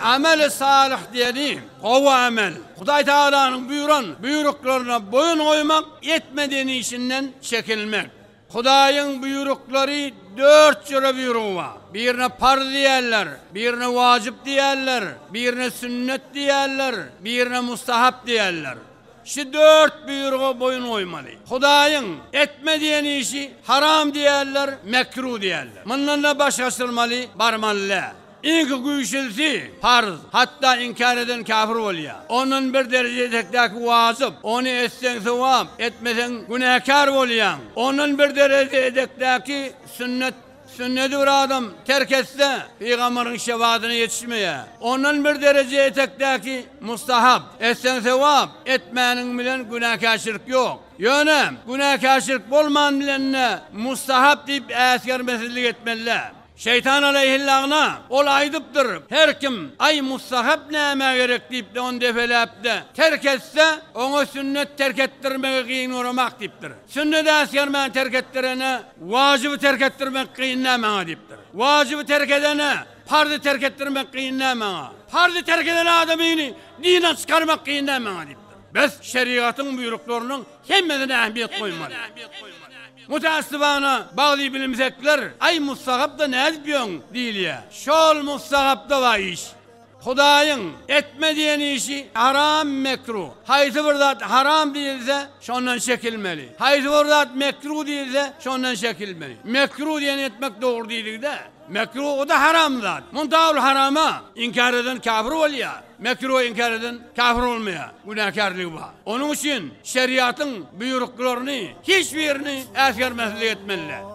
Ameli salyh diýeni, gowy amel. Hudaý Tagalanyň buýran buýruklaryna boýun goýmak, etmediýen işinden çekinmek. Hudaýyň buýruklary dört jüre buýrugy bar. Birine parz diýerler, birine wajyp diýerler, birine sünnet diýerler, birine mustahap diýerler. Şu dört buýruga boýun goýmaly. Hudaýyň, Etme diýen işi haram diýerler, mekruh diýerler. Mundan-da baş gaçyrmaly, barmaly däl. Iň güýçlüsi, parz. Hatda inkär eden käfir bolýar. Ondan bir dereje etekdäki wajyp. Ony etseň sogap, etmeseň günäkär bolýaň. Ondan bir dereje etekdäki sünnet. Sünneti bir adam terk etse, pygamberiň şefadyna ýetişmeýär. Ondan bir dereje etekdäki mustahap, etseň sogap, etmäniň bilen günäkärçilik ýok. Ýöne, günäkärçilik bolman bilen-de mustahap diýip äsgermesizlik etmeli-dä. Şeýtan alaýhillagna, ol aýdypdyr, Her kim, Aý, mustahap nämä gerek diýip-de ony depeläp-de terk etse, oňa sünnet terk etdirmegi gyn göremak diýipdir. Sünnet äsgermän terk etdirene, wajyby terk etdirmek kyn dä maňa diýipdir. Wajyby terk edene, parzy terk etdirmek kyn dä maňa. Parzy terk eden adamyny dinden çykarmak kyn dä maňa diýipdir. Biz şerigatyň buýruklarynyň hemmesine ähmiýet goýmaly. Mütäessibana, bagly bilimsekler, Aý, mustahap-da nädip ýöň? diýilýär. Şol mustahap-da bar iş. Hudaýyň, Etme diýen işi, haram, mekruh. Haýsy bir zat haram diýilse, şondan çekilmeli. Haýsy bir zat mekruh diýilse, şondan çekilmeli. Mekruh diýeni etmek dogry diýildi-de, mekruhy-da haram zat. Munda ol harama inkär eden käbir bolýar, mekruha inkär eden käbir bolmaýar, günäkärligi bar. Onuň üçin şeriýatyň buýruklaryny hiç birini äsgermezlik etmelidir.